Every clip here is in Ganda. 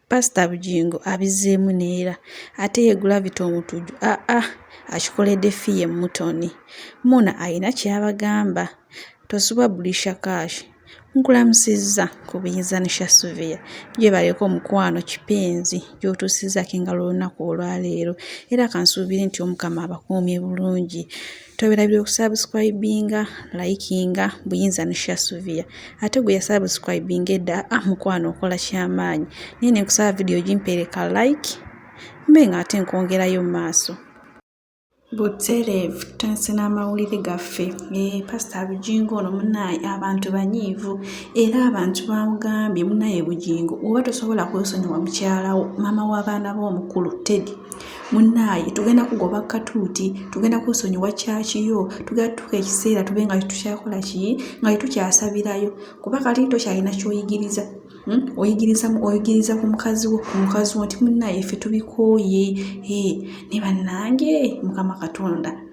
Pasita Bugingo abizzeemu neera ate ye Gravity Omutujju ah ah akikoledde ffi ye Mutoni. Muna alina ky'abagamba. Tosubwa Brisha Kash nkulamusizza ku buyinza ne Shasuvia. Gyebaleko mukwano kipenzi gy'otuusizzaako engalo olunaku olwaleero era kansuubire nti Omukama abakuumye bulungi. Toberabira okusubscribinga, likinga, buyinza ne share Sylvia. Ate gwe yasubscribinga edda, ah mukwano okola kyamaanyi. Naye ne nkusaba video ogimpere ka like, mbe nga ate nkwongerayo mu maaso. Butereevu tutandise n'amawulire gaffe. Ee, eh, Pasita Bugingo ono munaaye abantu banyiivu era abantu bamugambye munaaye Bugingo oba tosobola kwesonyiwa mukyalawo maama w'abaana b'omukulu Teddy. Munnaaye tugenda kugoba kkatuuti, tugenda kwesonyiwa ccaaci yo, tugenda kutuuka ekiseera tube nga tetukyakola ki, nga tetukyasabirayo kuba kati tokyalina ky'oyigiriza. Oyigiriza oyigiriza ku mukazi wo ku mukazi wo nti munnaaye ffe tubikooye, hee naye bannange Mukama Katonda.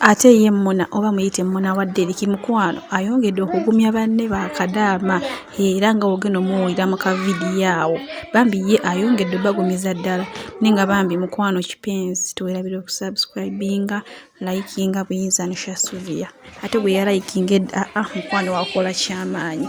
Ate ye Muna oba muyite Muna wa Deriki mukwano ayongedde okugumya banne ba Kadaama era nga wogenda omuwulira mu kavidiyo awo. Bambi ye ayongedde obagumiza ddala naye nga bambi mukwano kipenzi tuwerabira okusubscribinga, likinga buyinza ne Shasuvia ate gwe yalayikinga edda aa ah, mukwano wakola kyamaanyi.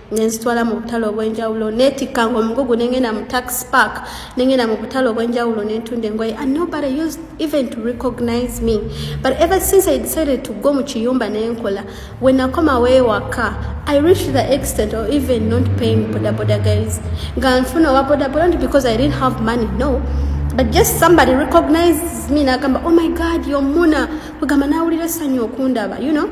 nenzitwala mu butale obwenjawulo netikka nga omugugu nengenda mu tax park nengenda mu butale obwenjawulo nentunda engoye and nobody used even to recognize me but ever since i decided to go mu kiyumba nenkola when nakomawo ewaka i reached the extent or even not paying bodaboda guys nga nfuna owa bodaboda not because i didn't have money no but just somebody recognizes me nagamba oh my god yomuna kugamba nawulira essanyu okundaba you know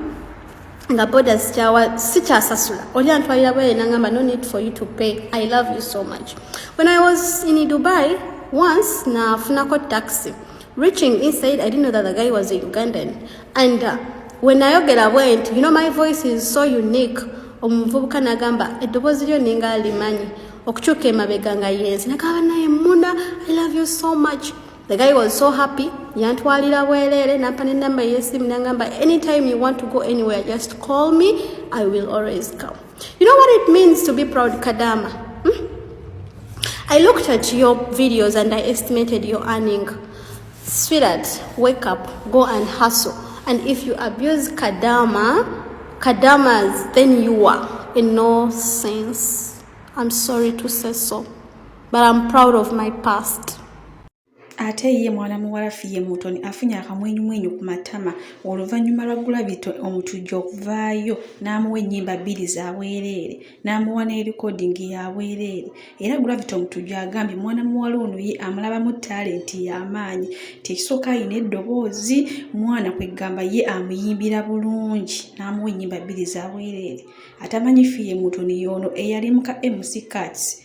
nga boda zikyawa sikyasasula oli antwalira bwere nangamba no need for you to pay i love you so much when i was in dubai once nafunako taxi reaching inside i didn't know that the guy was a ugandan and uh, when nayogera bwe nti you know my voice is so unique omuvubuka nagamba eddoboozi lyo ninga alimanyi okukyuka emabega nga yenzi nagamba naye muna i love you so much The guy was so happy yantwalira bwereere nampa nenamba eyesimu nangamba anytime you want to go anywhere just call me i will always come you know what it means to be proud kadama hmm? i looked at your videos and i estimated your earning sweetheart wake up go and hustle and if you abuse kadama kadamas then you are in no sense i'm sorry to say so but I'm proud of my past ate ye mwana muwala fiye mutoni afunye akamwenyumwenyu ku matama oluvannyuma lwa gulabito omutujja okuvaayo n'amuwa ennyimba bbiri za bwereere n'amuwa n'erikodingi ya bwereere era gulabito omutujja agambye mwana muwala ono ye amulabamu talenti y'amaanyi nti ekisooka alina eddoboozi mwana kweggamba ye amuyimbira bulungi n'amuwa ennyimba bbiri za bwereere atamanyi fiye mutoni yoono eyali muka mc cats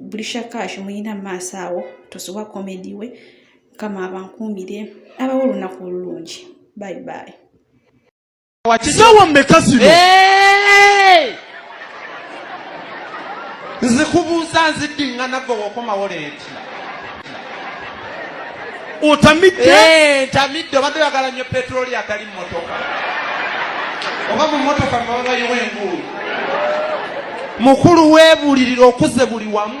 buli shakaashi muyina maaso awo tosubwa komedi we mukama abankuumire abawo olunaku olulungi bye bye saawa mmeka zino nzikubuuza nziddingana gwe wokomawo leeti otamidde eh, ntamidde obadde oyagala nnyo petroli atali mumotoka oba mu motoka mwababayiwa enguulu mukulu weebulirira okuze buli wamu